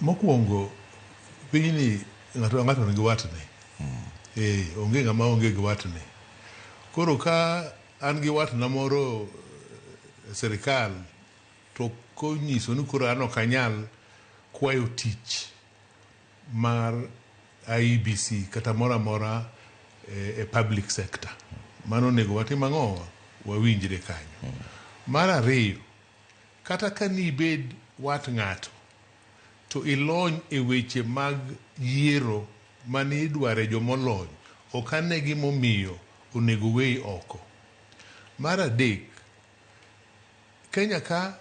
Mokwongo pinyni ng'ato ka ng'ato nigi watne. Eh, onge ng'ama onge gi watne. Koro ka an gi watna moro e sirikal to konyiso ni koro an ok anyal kwayo tich mar IEBC kata moro amora e, e public sector. Mano onego watim ang'o? Wawinjre kanyo. Mar ariyo, Kata ka ni ibed wat ng'ato, to ilony e weche mag yiero ma ni idware jo molony, ok ane gima omiyo onego weyi oko. Mar adek, Kenya ka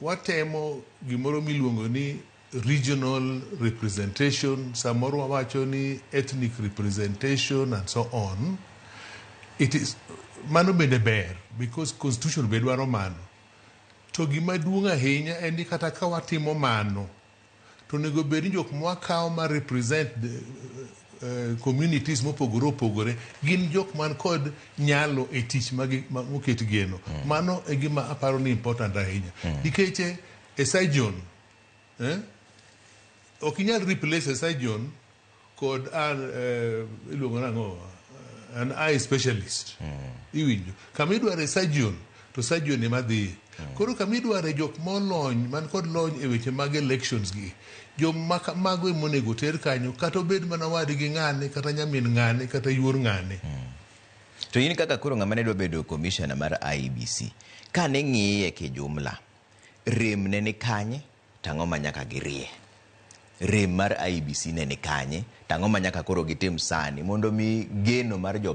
watemo gimoro miluongo ni regional representation, samoro wawacho ni ethnic representation and so on, it is, mano bende ber because constitution be dwaro mano. To gima duong' ahinya en ni kata ka watimo mano, to onego obed ni jok ma wakawo ma represent communities mopogore opogore gin jok man kod nyalo e tich moket geno. Mano e gima aparo ni important ahinya. Nikech e surgeon, ok inyal replace e surgeon. Kod an eh, iluongo nang'o an eye specialist iwinjo kama idware surgeon to surgeon ema dhiye koro kama idware jok molony man kod lony e weche mag elections gi joma ka- mago ema onego oter kanyo kata obed mana wadgi ng'ane kata nyamin ng'ane kata yuor ng'ane To in kaka koro ng'ama ne dwa bedo commissioner mar IEBC, kane ng'iye kijumla, rem ne ni kanye? To ang'o ma nyaka girie? Rem mar IEBC ne ni kanye, to ang'o ma nyaka koro gitim sani mondo omi geno mar jo